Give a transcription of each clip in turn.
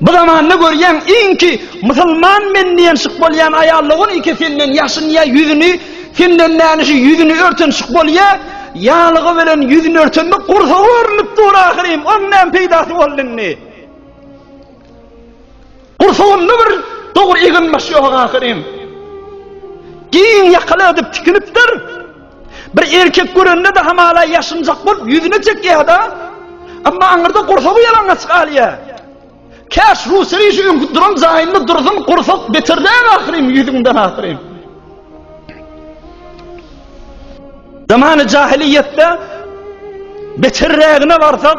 Bu zamanda görýän iňki musulman men diýen şyk bolýan aýal logun iki senden ýaşynýa ýüzüni senden näniş ýüzüni örten şyk bolýa ýalygy bilen ýüzüni örtende gursagy görünip dur ahyrym oň näme peýdasy boldy indi gursagynda bir dogry egin baş ýok ahyrym giň ýakaly edip tikinipdir Bir erkek görende-de hamala ýaşynjak bolup ýüzüne çekýär-de, emma aňyrda gursagy ýalaňaç galýar. Käş Ruseri şu öňki duran jaýynda dursyn, gursak beterläň ahyryn, ýüzüňden ahyryn. Zamany jahiliýetde beterrägine barsak,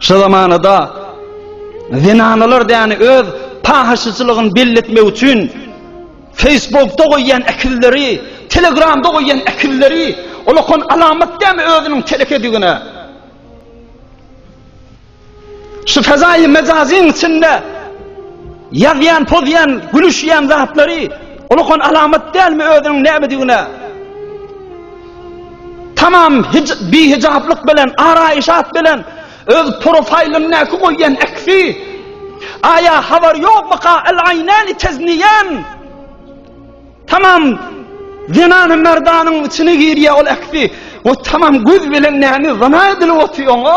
Şu zamanada zenanalar däni öz pahyşyçylygyny belli etmek üçin Facebookda goýýan ekilleri, Telegramda goýýan ekilleri ulakon alamat dämi özüniň telekedigine. Şu fezaýy mejazyň içinde ýazýan, pozýan, gülüşýän zatlary ulakon alamat dälmi özüniň nämedigine. Tamam bihijaplyk bilen, araýşat bilen, öz profaýlyndaky goýýan äksi, Aýa habar ýokmyka, el-aýnäni tezniýän. Tamam zenany merdanyň içine girýär ol äksi. O tamam göz bilen näme zina edilip otyr oňa?